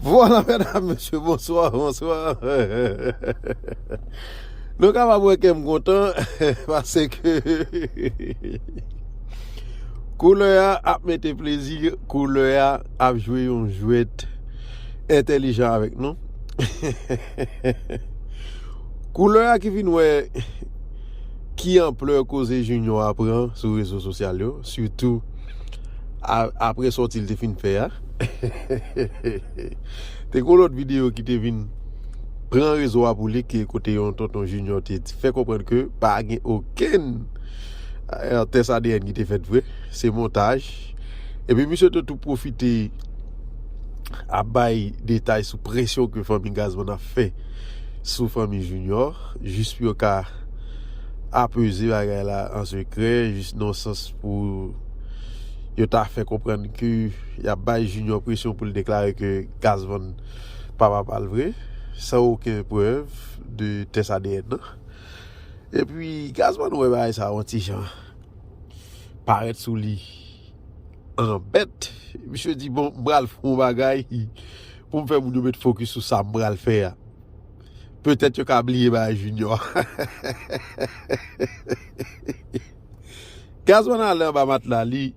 Vwala medam mesye bonswa bonswa Nou kapab wè kèm kontan pase ke Koulè a ap mete plezi koulè a ap jwe yon jwèt entèlijan avèk nou Koulè a ki vin wè ki anplè koze Junior a pran sou rezo sosyal yo sitou apre sòti l te fin fè a. Te gen yon lòt videyo ki te vin pran rezo a pou li ki kote yon tonton Junior te fè konprann ke pa gen okenn tès adn ki te fèt vre, se montaj. Epi misye te tou pwofite ap bay detay sou presyon ke fanmi Gazman ap fè sou fanmi Junior jis pou yo ka apeze bagay la an sekrè, jis nan sans. pou yo ta fè konprann ke y ap bay Junior presyon pou l deklare ke Gaz Van pa papa l vre, san oken prèv de tès adn nan. E pi Gaz Van wè bagay sa yon ti jan parèt sou li an bèt, misye di bon m pral fè yon bagay pou m fè moun yo met fokis sou sa m pral fè a. Petèt yo ka bliye bagay Junior. Gazman ale anba matla li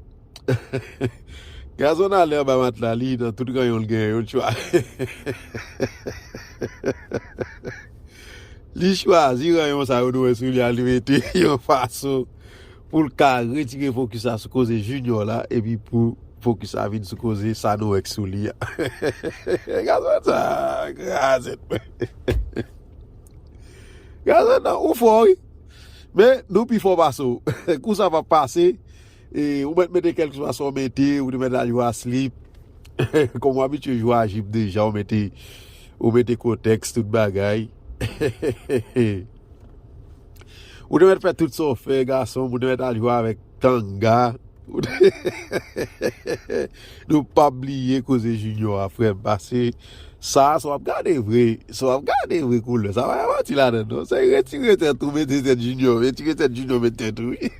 Gazman ale anba matla li nan tout ranyon l gen yon chwa Li chwazi ranyon sa yo nou wè sou li a li mete yon fason pou l ka retire fokis la sou koze Junior la epi pou fokis la vin sou koze sa nou wè k sou li a Gazman sa a krazèt Gazman ou fò wi. Men, nou pi fò pase w. Kou sa pa pase, ou mèt mete kèlkeswa sa w mete, ou te mèt al jwe a slip, kòm ou abitye jwe a jip deja, ou mete, ou mete kotèks, tout bagay. Ou te mèt fè tout sa w fè, gason m, ou te mèt al jwe avèk tanga. Nou pap bliye koze junior a frèm pase sa sa wap gade vre sa wap gade vre koulè sa pa yon manti ladann non se retire tèt ou mete tèt junior retire tèt junior mete tèt ou wi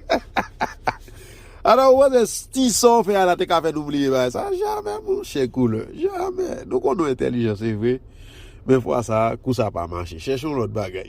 ata ou panse ti sa ou fè a la te ka fè nou bliye bagay sa jamè monchè koulè jamè nou konn nou entèlijan se vre men fwa sa kou sa pa mache chèche yon lòt bagay.